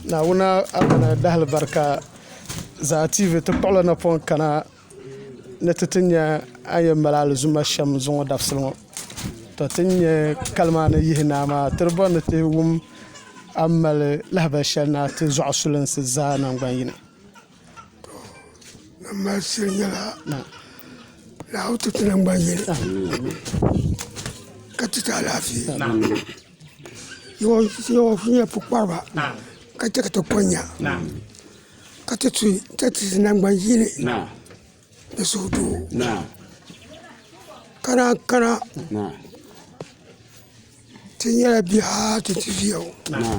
Naawuni Arana dahalibarika Zaa TV ti kpuɣila napɔŋ kana ni ti ti nya a ni yɛn mali alizuma shɛm zuŋɔ dabisili ŋɔ tɔ ti ni nya kali maa ni yihi naa maa ti di bɔri ni ti wum a ni mali lahabali shɛli ni a ti zuɣusulinsi zaa naŋgban yini. Nan mali shili nyɛla Naawuni ti ti nangbani yini ka ti ti alaafee yawa shili nyɛla pukpariba ka chɛ ka ti ko nya ka ti ti nangbani yini Di suhu doo kana kana ti nyɛla bihi haa ti ti viya ŋɔ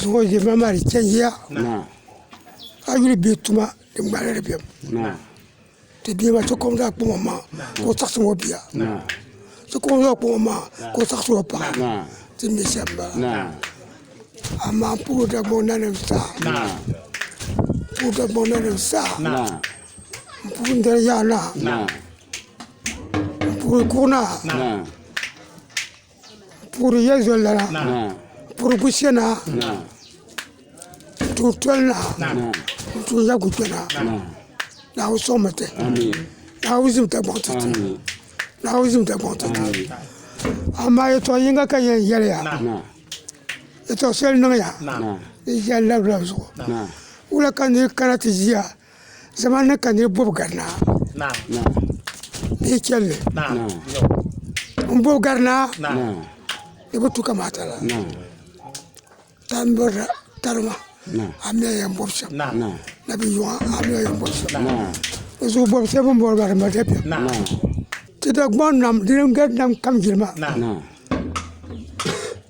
zuɣu ʒe ma maa di changiya a yuli bihi tuma di ŋmanila di bemi ti bia maa ti kɔŋ zaŋ kpaŋ o ma ka o chaɣisiri o bia ti kɔŋ zaŋ kpaŋ o ma ka o chaɣisiri o paɣa ti ni shɛm m-bala amaa puuri Dagbaŋ nanim zaa puuri Dagbaŋ nanim zaa. N puhi n dali yaha naa N puhi kuɣu naa N puhiri yɛli zoli lana N puhiri gushɛ naa N tuhi toli naa N tuhi ya guchɛ naa Naawuni soŋmi ti Naawuni zimi Dagbaŋ ti ti Naawuni zimi Dagbaŋ ti ti amaa yɛltɔɣa yinga ka n yɛn yɛliya yɛltɔɣa shɛli n niŋya n ʒiya n labila zuɣu wula ka n ni kana ti ʒiya Zamani ni ka niriba bobi garinaa bee chelli n bobi garinaa di bi tu kamata la tan birila tarima amina yan bobi shem na bi yuwa amina yan bobi shem o zuɣu bobi sheba n bori ba di mali dabiɛm ti Dagbaŋ nam di ni gari nam kam jilima.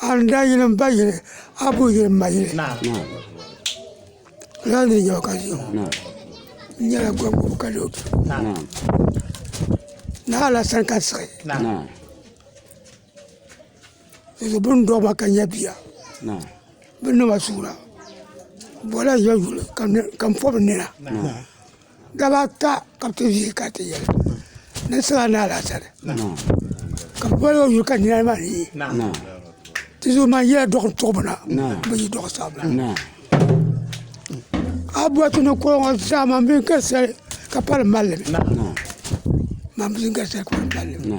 A ni daa yili m ba yili a bi yuli m ma yili lala ni nya o ka ʒiya ŋɔ n nyɛla gɔŋgobu ka lee o kpi ni alasan ka n siɣi n bini dɔɣi ma ka nya bia bini ni ma suura bola n yɛn yuli ka m pɔbi n nina Daba ata ka bi ti vihi ka ti yɛli ni n siɣila ni alaasari ka bi boli o yuli ka nina maa ni yi ti zuɣu man yila dɔɣi n tuɣi bi na bi yi dɔɣi sabi na a boli ti ni kɔŋɔ zaa man bin gari sali ka pali malli man bin gari sali ka pali malli.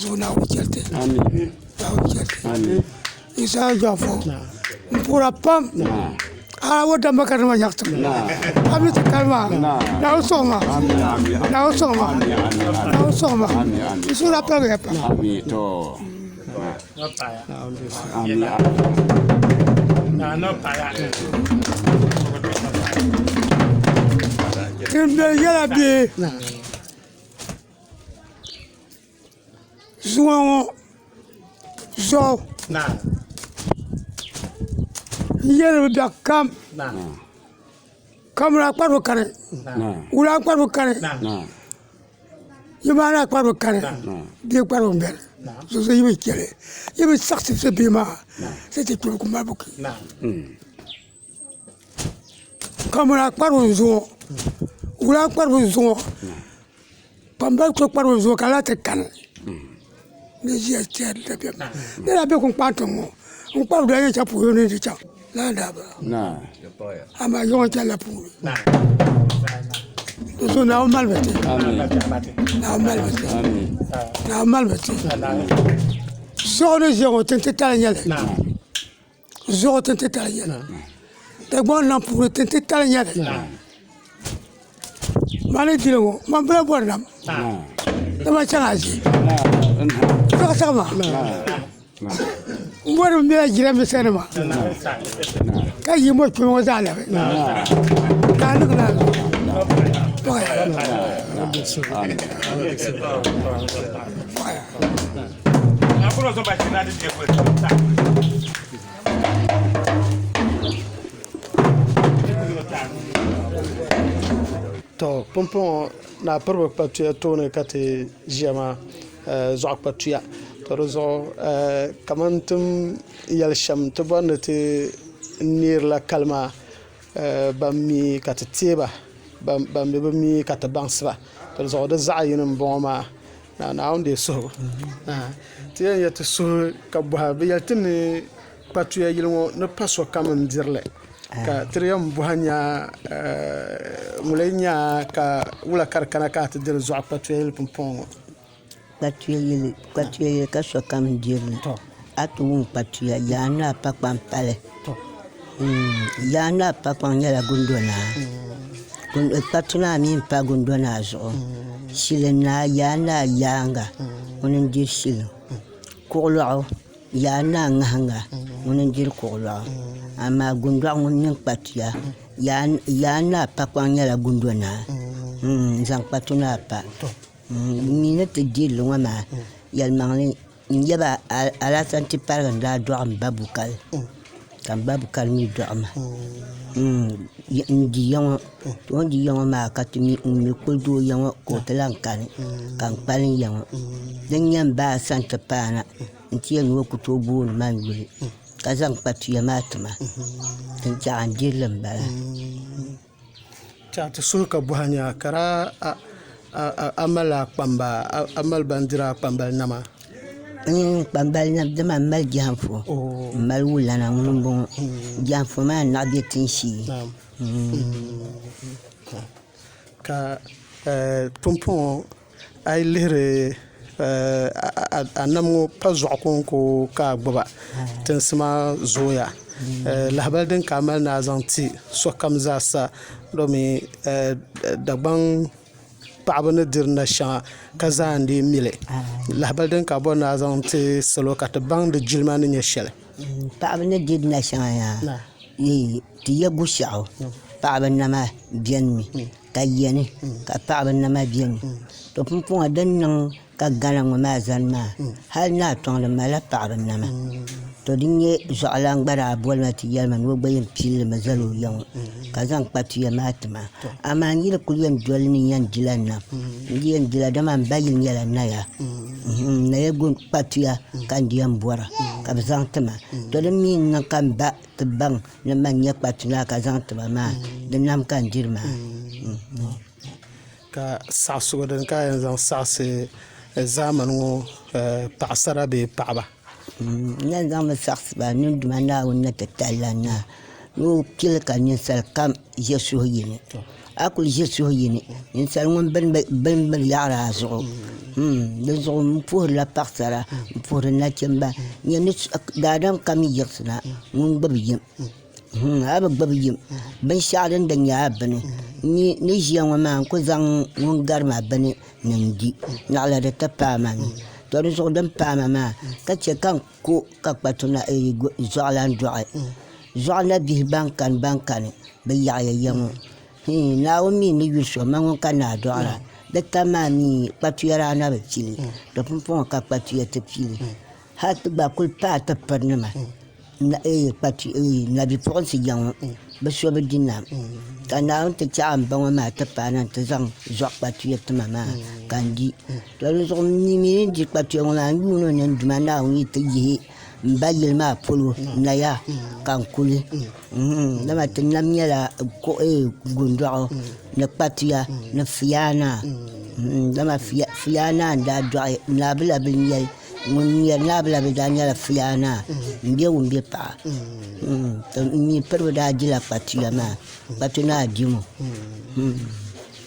zuɣu Naawuni chɛriti Isaya Jɔfɔ n puhira pam hali o damba ka di ma nyaɣati mi a ni ti kali maa Naawuni sɔŋ ma Naawuni sɔŋ ma Naawuni sɔŋ ma di suhuri daa paligiya pam din viɛlli nyɛla bee zuŋɔ ŋɔ zuɣu n yɛ ni bi da kam kamɛra kparibu kani wura kparibu kani nimaani kparibu kani di kparibu n bɛni so so yi bi chɛli yi bi saɣisi so bɛ maa Kamani a kparibu n zuŋɔ wula a kparibu n zuŋɔ kpambali so kparibu n zuŋɔ ka lahi ti kani ni ʒiya chɛri dabiɛm maa lala bɛ kuli kpaai tiŋ ŋɔ n kpari doli shɛli polo ni n ti chaŋ lala daa bi baŋ amaa zuɣu n chɛnila puuni n su naawuni malibu ti naawuni malibu ti zuɣu ni ʒiya ŋɔ tiŋ titali n nyɛli zuɣu tin titali nyɛli dagbaŋ nam puuni tin titali nyɛli mali dili ŋɔ man bala bɔri nam dama chɛŋ a ʒi zaɣ saɣama n bɔri n bɛla jiranbiisa nima ka yi mɔri kpɛ ŋɔ zaa labi ka a niŋ naai zuɣu to pumpɔŋɔ naa piribi kpatuya tooni ka ti ʒiya maa zuɣa kpatuya to di zuɣu kamani tin yɛli shɛm ti bɔri ni ti neerila kali maa ban mi ka ti teeba ban mi bi mi ka ti baŋsiba di zuɣu di zaɣ yini n bɔŋɔ maa Naa Naawuni deei suhibu. Ti yɛn yɛli ti suhu ka bɔha. Bɛ yɛli ti ni kpatuya yili ŋɔ ni pa sokam n-diri li, ka ti di yɛn bɔha nya ŋuli nya ka wula ka di kana ka a ti diri zuɣu kpatuya yili pumpɔŋɔ ŋɔ? Kpatuya yili, kpatuya yili ka sokam diri li. A ti wum kpatuya, Yaa Naa Pakpaŋ pali. Yaa Naa Pakpaŋ nyɛla Gundo Naa. Kpatu Naa mi m-pa Gundo Naa zuɣu. Shili Naa, Yaa Naa Yaaŋa, ŋuni n-diri shili. Kuɣulɔɣu, Yaa Naa Ŋahiŋa, ŋuni n-diri kuɣulɔɣu. Amaa Gundɔɣu ŋun mini kpatuya, Yaa Naa Pakpaŋ nyɛla Gundo Naa. N-zaŋ kpatu Naa pa. N mi ni ti diri li ŋɔ maa, yɛlimaŋli. N yaba alaafee n ti paligi n daa dɔɣi m ba Bukal ka m ba Bukal mi dɔɣi ma n di ya ŋɔ to n di ya ŋɔ maa ka ti mi ŋun mi kuli doo ya ŋɔ ka o ti lan kani ka n kpalim ya ŋɔ din nyɛ m ba a sani ti paana n ti yɛli ni o ku tooi booni ma n yuli ka zaŋ kpatuya maa ti ma din chɛɣu a ni diri li m bala Ti suhu ka buhi a ni a kara a mali bindira a kpambali nama n kpambali nam dama n mali jɛanfo n mali wulana ŋuni n bɔŋɔ jɛanfo maa naɣi bɛ tin shee ka pumpɔŋɔ A yi lihiri a nam ŋɔ pa zuɣu kɔŋko ka a gbuba, tinsi maa zooya. Lahibali din ka a mali ni a zaŋ ti sokam zaa sa domi Dagbaŋ paɣiba ni diri nashɛŋa ka zaa n-lee mi li. Lahibali din ka a bɔri ni a zaŋ ti salo ka ti baŋ di jilima ni nyɛ shɛli. Paɣiba ni diri nashɛŋa yaa, ti ya Bushiɣu paɣiba nama benimi. ka yiya ni ka paɣaba nama biɛni to pumpɔŋɔ din niŋ ka Ghana ŋɔ maa zani maa hali ni a tɔŋ di malila paɣaba nama to din nyɛ zuɣulana gba daa boli ma ti yɛli ma ni o gba yɛn pili li mi zali o ya ŋɔ ka zaŋ kpa tuya maa ti ma amaa n yi di kuli yɛn doli ni n yɛn dila nam n di yɛn dila dama m ba yuli nyɛla naya n naya kpa tuya ka n di yɛn bɔra ka bɛ zaŋ ti ma to din mi niŋ ka m ba ti baŋ Ni mani nyɛ kpatula ka zaŋ tiba maa, di nam ka n diri maa. Ka saɣisigu din ka a yɛn zaŋ saɣisi zaamani ŋɔ paɣisara bee paɣiba? N yɛn zaŋmi saɣisi ba n niŋ Duuma Naawuni ni ti tali la n na, ni o pili ka ninsali kam ʒe suhuyini. a ku ʒi suhu yi ni ninsal ŋun bini binyahari a zuɣu dinzuɣu n puhurila paɣasara n puhuri nachimba daadam kam yi yiɣisina ŋun gbubi yini a bi gbubi yini binshaɣu din di nyɛ a bini n ni ʒiya ŋɔ maa n ku zaŋ ŋun gari ma bini ni n di naɣila di ti paai ma ni to dinzuɣu din paai ma maa ka chɛ ka Ko ka kpatu na eyi zuɣulan dɔɣi zuɣu na bihi ban kani ban kani bi yaɣiya ya ŋɔ hii Naawuni mi ni yuli so mani ŋuni ka naa dɔɣira di tam maa mi kpatuya daa na bi pili di pumpɔŋɔ ka kpatuya ti pili hali ti gba kuli paai ti piri nima nabi puɣinsi ya ŋɔ bi so bi di nam ka Naawuni ti chaɣi m ba ŋɔ maa ti paai na nti zaŋ zuɣu kpatuya tima maa ka n di. To di zuɣu n mi mii ni di kpa tuya ŋɔ maa n yuun o ni n Duuma Naawuni yi ti yihi n ba yili maa polo naya ka n kuli dama ti nam nyɛla gundɔɣu ni kpa tuya ni fiyaa naa dama fiyaa naa n daa dɔɣi naa bi la bini yɛli ŋun nyɛri naa bi la bini daa nyɛla fiyaa naa n bɛ wum bɛ paɣa to n mi piriba daa dila kpa tuya maa kpatu naa dimo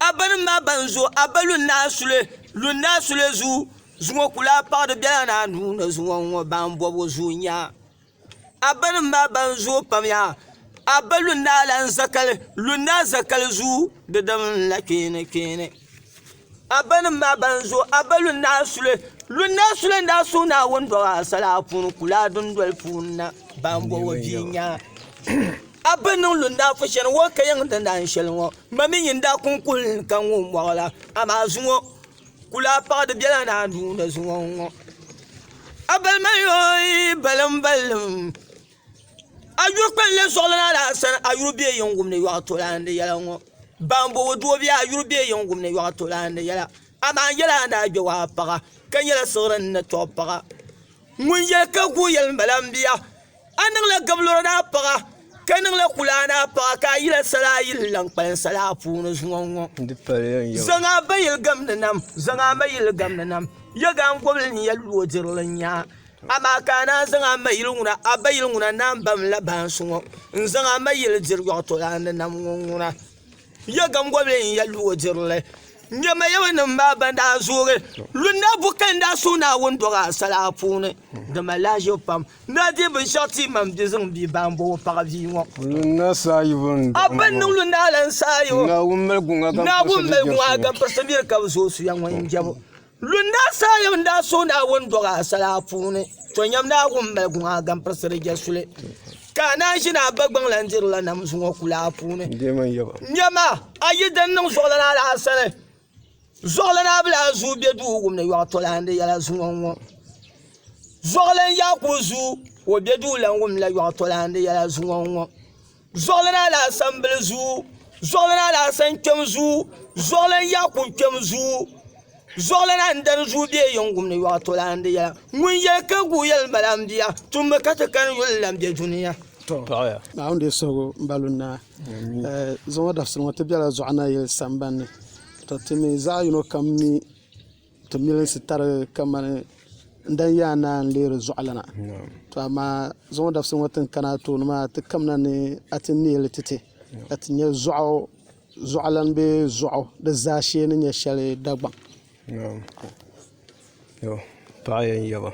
Abbanim maa ban zo Abba Lundaa Sule Lundaa Sule zuu zuŋɔ ku lahi paɣiri bela ni anu ni zuŋɔ n-ŋɔ ban bɔbu zuu nya. Abbanim maa ban zooi pam yaa Abba Lundaa Lan Zakali Lundaa Zakali zuu di dim n-la kpeeni kpeeni. Abbanim maa ban zo Abba Lunnaɣa Sule, Lunnaɣa Sule n daa suhi Naawuni dɔɣi asali apuuni kulaa dundoli puuni na, ban bɔbi o bia nyaa. Abba niŋ Lunnaɣa Fusheni ŋɔ ka yiŋ di naan sheli ŋɔ, ma mi nyin daa kuŋ kuhili ni ka ŋun mɔɣi la, amaa zuŋɔ kulaa paɣa di bela naa nuu ni zuŋɔ n ŋɔ. Abba mali o balimbalinim. A yu kpɛn lɛb suɣili na la sani a yuri bɛ yin wumdi yɔɣu tolaandi yɛla ŋɔ ban bo o duobiya a yuri bɛ yin wumdi yɔɣu tolaandi yɛla amaa n yɛla a ni daa gbɛ waa paɣa ka nyɛla siɣiri ni tɔbu paɣa ŋun yɛli ka guui yɛli n bala n bia a niŋla gabluri ni a paɣa ka niŋla kulaa ni a paɣa ka a yila sala a yi ni lan kpalim sala a puuni zuŋɔ ŋɔ zaŋ a ba yili gamdi nam zaŋ a ma yili gamdi nam yɛgangobili ni yɛluɣu dirili n nya Amaa ka a naan zaŋ a ma yili ŋuna, a ba yili ŋuna naan bam la baansi ŋɔ n-zaŋ a ma yili diri yɔɣitɔlaandi nam ŋɔ ŋuna. Ya gaŋgɔbili n ya lu o diri li. Nya Mayɛminim maa ban daa zoogi lu n-daa bu ka n-daa suŋ Naawuni dɔɣi a sala a puuni. Di mali a ʒibu pam n daa deei binshɛɣu ti ma m-bi zaŋ bia ba m-bo o paɣa bia ŋɔ. A ba n niŋ lu n-daa lan saai o. Naawuni mali guŋa ka m pirisi miri ka bi zooi suya ŋɔ yɛn jɛbu. Lunda saha yam n daa suhi Naawuni dɔɣi asali a puuni, to nyam ni a wum mali guŋ a gampiris di je suli, ka a naan ʒini a bagbaŋ lan diri la nam zuŋɔ kula a puuni. Nyama, a yi din niŋ zuɣulana a daa sani, zuɣulana a bi daa zuui be duu wum ni yɔɣi tɔlan di yɛla zuŋɔ ŋɔ. Zuɣulan Yakubu zuui o be duu lan wum la yɔɣi tɔlan di yɛla zuŋɔ ŋɔ. Zuɣuli ni alasan bili zuu Zuɣuli ni alasan kpɛm zuu Zuɣuli ni Yaku kpɛm zuu Zuɣuli ni n dari zuu bɛ yingum ni yɔɣu tolaan di yɛla ŋun yɛli ka guui yɛli n bala n bia tummi ka ti kani yuli n-lahi be dunia. Naawuni deei suhigu m-balu naa. Zuŋɔ dabisili ŋɔ ti bela Zuɣanayili samban ni. Tɔ timi zaɣ yino kam mi. Ti milinsi tari kamani n dan yaa naa n-leeri zuɣulana. Tɔ amaa zaŋɔ dabisili ŋɔ tin kana a tooni maa, ti kamina ni a ti neei li ti ti, ka ti nya zuɣu zuɣulan bee zuɣu di zaashee ni nyɛ shɛli Dagbaŋ. Naam. Tɔ paɣ yɛn yaba.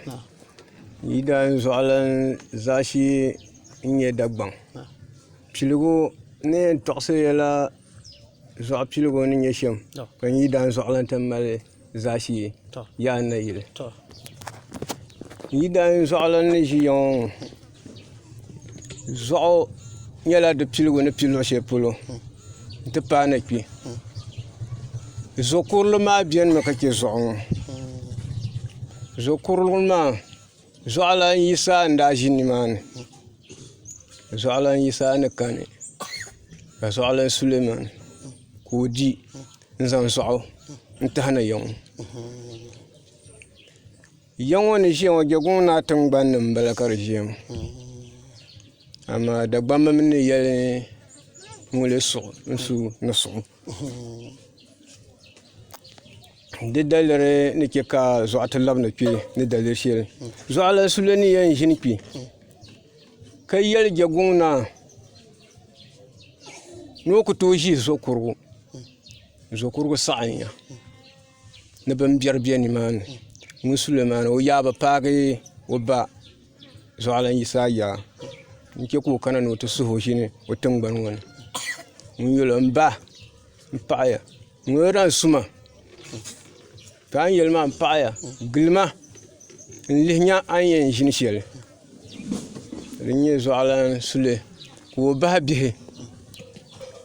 Yi daan zuɣulan zaashee n-nyɛ Dagbaŋ, piligu ni yɛn tɔɣisiri ya la Zuɣu piligu ni nyɛ shɛm ka n yi daa zuɣu lahi ti mali zaashee yaa n nayili n yi daa zuɣu lahi ni ʒiya ŋɔ zuɣu nyɛla di piligu ni pili luɣu shɛli polo n ti paai na kpɛ zo kurili maa biɛni mi ka chɛ zuɣu ŋɔ zo kurili maa Zuɣulan Yisa n daa ʒi nimaani ka zuɣulan Yisa ni kani ka zuɣulan Suleman ka o di n zaŋ zuɣu n tahina ya ŋɔ ya ŋɔ ni ʒiya ŋɔ Jegong naa tiŋgbani ni n bala ka di ʒiya ŋɔ amaa Dagbamba mi ni yɛli ni ŋɔ lee suɣu n su ni suɣu. Di daliri ni chɛ ka zuɣa ti labina kpe ni daliri shɛli. Zuɣalana Sule ni yɛn ʒini kpe ka yɛli Jɛguŋ Naa ni o ku tooi ʒi Zokurugu. Zokurugu saɣiya ni bimbɛri be nimaani. Ŋun Sule maa na o yaa bi paagi o ba Zuɣalana Yisa Ayaa n-chɛ ka o kana ni o ti suhi o ʒini o tiŋgbani ŋɔ ni. Ŋun yɛl o m-ba m-paɣiya. Ŋuni daa n-su ma, ka a ni yɛli maa m-paɣiya gili ma n-lihi nya a ni yɛn ʒini shɛli. Di ni nyɛ zuɣulan suli ka o bahi bihi,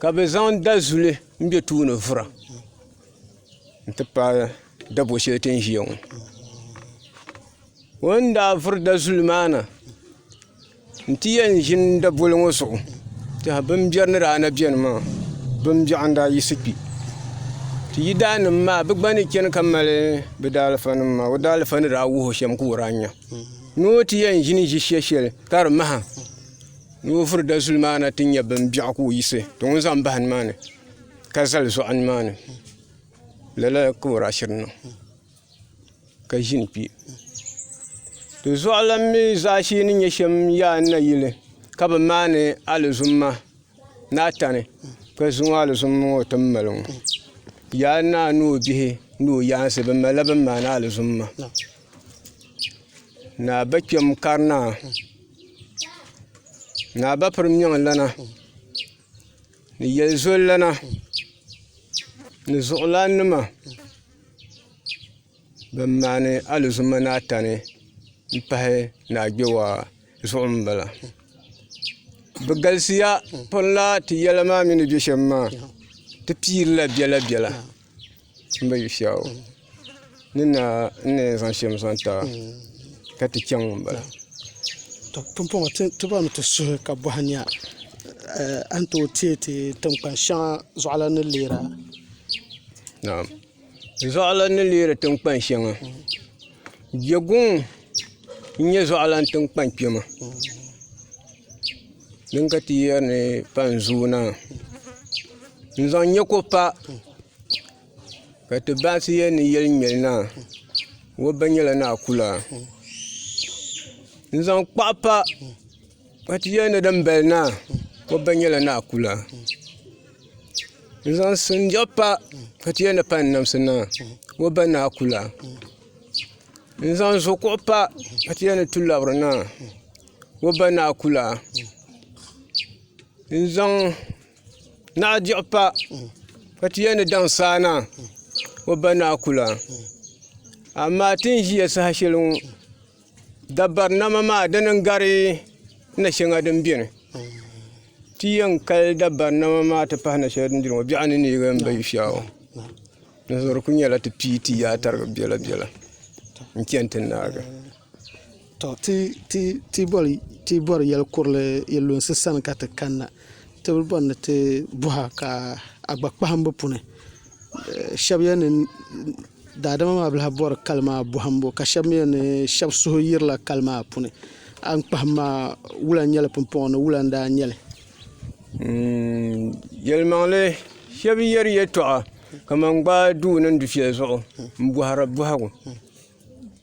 ka bɛ zaŋ dazuli m-be tooni vura nti pahi dabo shɛli ti ni ʒia ŋɔ. O ni daa vuri dazuli maa na, N ti yɛn ʒi n daboli ŋɔ zuɣu, tɛha bimbiɛri ni daa na beni maa, bimbiɛɣu n-daa yiɣisi kpi. Ti yidaannim maa bɛ gba ni chani ka mali bɛ daalifanim maa, o daalifa ni daa wuhi o shɛm ka o daa nya. Ni o ti yɛn ʒini ʒi shɛ shɛli ka di maha ni o vuri dazuli maa na ti nya bimbiɛɣu ka o yiɣisi ti ŋun zaŋ bahi nimaani ka zali zuɣu nimaani. Lala ka o daa chani niŋ. ka ʒini kpɛ di zuɣulan mi zaashee ni nyɛ shɛm yaa n nayili ka bi maani alizumma ni a tani ka zuŋɔ alizumma ŋɔ ti ni mali ŋɔ yaa naa ni o bihi ni o yaansi bi malila bini maani alizumma ni a ba kpɛm kari naa ni a ba piri miɛŋ lana ni yɛli zoli lana ni zuɣulan nima Bin maani alizuma ni atani n pahi ni agbewaa zuɣu n bala bi galisiya pun laa ti yɛla maa mini bɛ shɛm maa ti piiri la bɛla bɛla n ba yi shau ni naa n ni yɛn zaŋ shɛm zaŋ taba ka ti chaŋ n bala. to pumpɔŋɔ ti bɔrimi ti suhi ka bɔhi nya a ni tooi teei ti tinkpan shɛŋa zuɣulana ni leera. Naam. Zuɣulan ni leeri tiŋkpan shɛŋa. Jɛguŋ n-nyɛ zuɣulan tiŋkpan kpɛma din ka ti yɛri ni pan zooi na. N-zaŋ nyɛ ko pa ka ti baŋsi yɛli ni yɛli ŋmɛli na, wobba nyɛla ni a kula. N-zaŋ kpaɣu pa. Ka ti yɛli ni dimbali naa mɔbba nyɛla naa kula n-zaŋ sinjab pa ka ti yɛli ni pali n-namsi naa mɔbba naa kula n-zaŋ zukuɣu pa ka ti yɛli ni tulabiri naa mɔbba naa kula n-zaŋ naɣidiɣu pa ka ti yɛli ni daŋsaa naa mɔbba naa kula amaa ti ni ʒiya saha shɛli ŋɔ Dabarinama maa dini n gari na shɛŋa din biɛni ti yɛn kali dabarinama maa ti pahi na shɛŋa din biɛni ŋo biɛɣu ni neei n ba yi fiɛɣu dinzuɣu di ku nyɛla ti pii ti yaai tarigi biɛla biɛla n chɛni ti naagi ti bori yɛli kurili yi lunsi sani ka ti kanna ti bi bori ni ti boha ka a gba kpaham bi puuni shɛba yɛli ni daadama maa bi lahi bɔri kali maa bɔhimbu ka shɛba mi yɛli ni shɛba suhu yirila kali maa puuni a ni kpahim maa wula n-nyɛ li pumpɔŋɔ ni wula n-daa nyɛ li yɛlimaŋli shɛba yɛri yɛltɔɣa kamani gbaai duu niŋ dufɛli zuɣu m-bɔhiri bɔhigu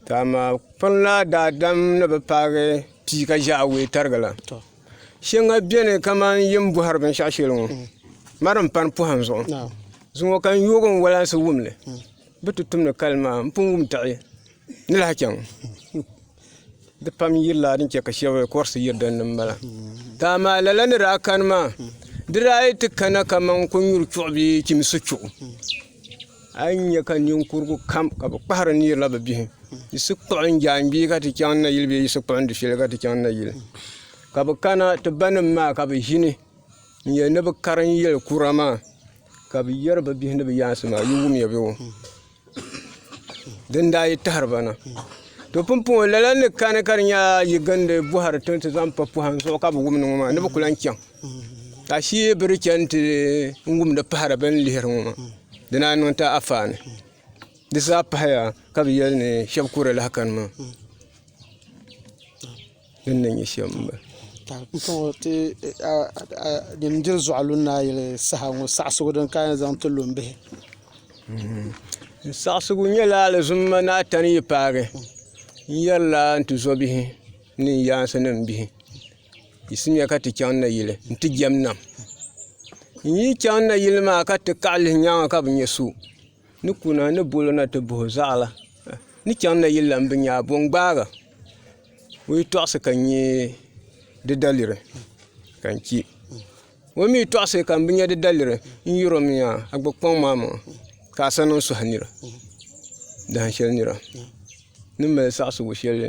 ka amaa kpuni la daadam ni bi paagi pia ka ʒe awɔi tarigila Shɛŋa beni kamani yi ni bɔhiri binshɛɣu shɛli ŋɔ mari m-pani pɔhim zuɣu zuŋɔ ka n yooi n walansi wum li bɛ ti tum ni kali maa m pun wum daɣi ni lahi chaŋ di pam yirila din chɛ ka shɛba kɔrisi yiri din ni m-bala ka amaa lala ni daa kani maa di daa yi ti kana kamani kɔnyuri chuɣu bee chimisi chuɣu A yi nya ka ninkurugu kam ka bi kpahiri nirila bi bihi, yi si kpuɣi n jaangbee ka ti chaŋ n nayili bee yi si kpuɣi n dufɛli ka ti chaŋ n nayili. Ka bi kana ti banim maa ka bi ʒini n yɛli ni bi karim yɛli kura maa, ka bi yɛri bi bihi ni bi yaansi maa, yi wumya bee wo. Din daa yi tahiri ba na. To pumpɔŋɔ, lala ni kani ka di nya yi gindi bɔhiri ti zaŋ pa pɔhim zuɣu ka bi wum ni ŋɔ maa, ni bi ku lan chaŋ. Ka shee bi di chɛni ti n wumdi pahari bi ni lihiri ŋɔ maa di naa niŋ ti afaani di zaa pahaya ka bi yɛli ni shab kuri lahi kanima din ni nyɛ shɛm n bala din diri zuɣa lu ni a yuli saha ŋɔ saɣasigu din ka yɛn zaŋ ti lu n bihi saɣasigu nyɛla alizum ma ni a tani yi paagi n yɛrila n tizɔbihi ni n yaansi ni n bihi Yisimya ka ti chaŋ nayili n ti jɛm nam n yi chaŋ nayili maa ka ti kaɣa lihi nyaanga ka bi nyɛ so ni kuna ni bolo na ti bahi o zaɣala ni chaŋ nayili la n bi nyɛ a bo n gbaaga o yi tɔɣisi ka n nyɛ di daliri ka n chɛ o mi yi tɔɣisi ka n bi nyɛ di daliri n yɛro mi yaa a gbubi kpaŋ maa maŋa ka a sani n sɔhi nira dahin shɛli nira ni mali saɣisigu shɛli